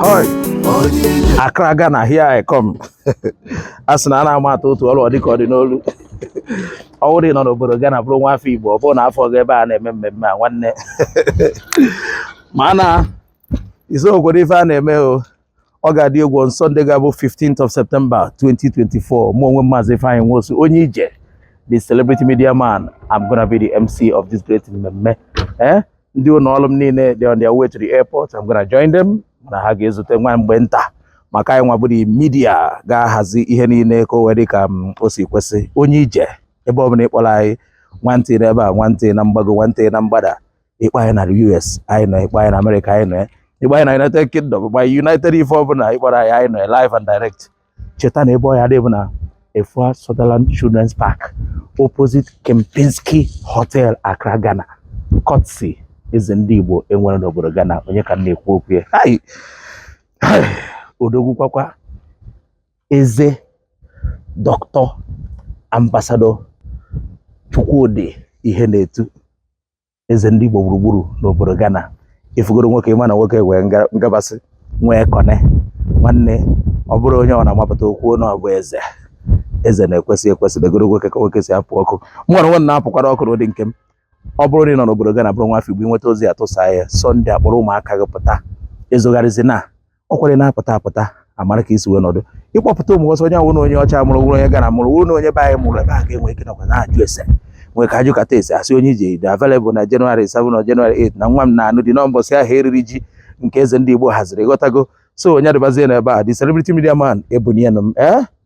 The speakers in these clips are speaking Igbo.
Hoi. Accra Ghana here I come. a sị na a na-ama atụ otu ọrụ ọ dịka ọ dị n'olu ọ bụrụ na ị nọ n'obodo Ghana bụrụ nwa afọ Igbo ọ bụrụ na afụrọ gị ebe a na-eme mmemme a nwanne ma na isokwarọ ife a na-eme o ọ ga-adị egwu on Sunday ga-abụ 15th of September 2024 mụ onwe Maazị Ifeanyi Nwosu onye ije the celebrity media man I'm gonna be the MC of this great mmemme eh ndị ụnọ ọlụ m niile dị on their way to the airport I'm gonna join them na ha ga-ezute nwa mgbe nta maka anyị nwa bụrụ media ga-ahazi ihe niile ka o wee dị ka mm, o si kwesị onye ije ebe ọ bụla ị kpọrọ anyị nwantị n'ebe a nwantị na mgbago nwantị na mgbada ị kpọọ anyị na US anyị nọ ị kpọọ anyị na America anyị nọ ị kpọọ anyị na United Kingdom ị kpọọ United ife ọbụla ị kpọrọ anyị anyị nọ live and direct cheta na ebe ọ ya-adị bụ na Efua Sutherland Children's Park opposite Kempinski Hotel Accra Ghana courtesy eze ndị Igbo e nwere n'obodo Ghana onye ka m na-ekwu okwu ya odogwu kwakwa eze Doctor Ambassador Chukwudi Ihenetu eze ndị Igbo gburugburu n'obodo Ghana ị fụgoro nwoke ị ma na nwoke nwee ngabasị nwee kọne nwanne ọ bụrọ onye na-apụta o kwuo na ọ bụ eze eze na-ekwesị ekwesị negoro nwoke ka nwoke si apụ ọkụ mụ onwe m nwa na-apụkwara ọkụ n'ụdị nke m ọ bụrụ na ị nọ n'obodo Ghana bụrụ nwa afọ Igbo i nweta ozi a tụsa ya Sunday a kpọrọ ụmụaka gị pụta ezogharịzina ọ kwere na-apụta apụta a mara ka i si wee nọdụ ị kpọpụta ụmụ ọsọ onye ọ wụ na onye ọcha mụrụ wụrụ onye Ghana mụrụ wụrụ na onye be anyị mụrụ ebe a ga-enwe ike nọkwa na-ajụ ese nwee ka a jụkata ese a sị onye ije dị available na January 7 na January 8 na nwa m na-anụ di n'ụbọchị ahụ eriri ji nke eze ndị Igbo haziri ghọtago so onye adịbazie n'ebe a the celebrity media man ebunye m ee eh?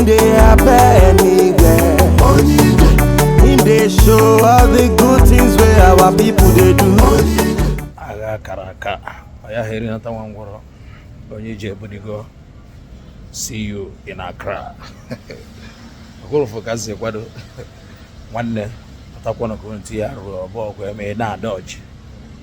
Nde abe n'igwe. I dey show all the good things wey our people dey do. Agha a kara aka, ọ yaha erinata nwa ngwọrọ, onye ije ebunigo, see you in Accra. Ogolofu ka si kwado, nwanne, atakwana ka unu tinye arụ ọbụ ọgụ eme na-ada ọjị.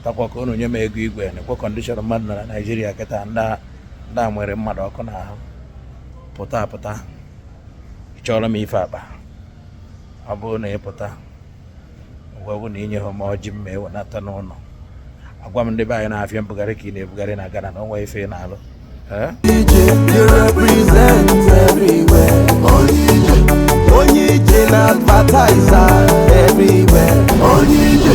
Takwa ka unu nye m ego igwe, nekwa condition mmadụ na Nigeria kịta ndị a nwere mmadụ ọkụ n'ahụ. pụta apụta chọrọ m ife akpa ọ bụrụ na ị pụta ngwa bụ na i nyeho m ọjị mma ewenata n'ụnọ agwa m ndị be anyị na afịa mbugharị ka ị na-ebugharị na Ghana na o nwe ife ị na-alụ onye ije na-advertise everywhere onye ije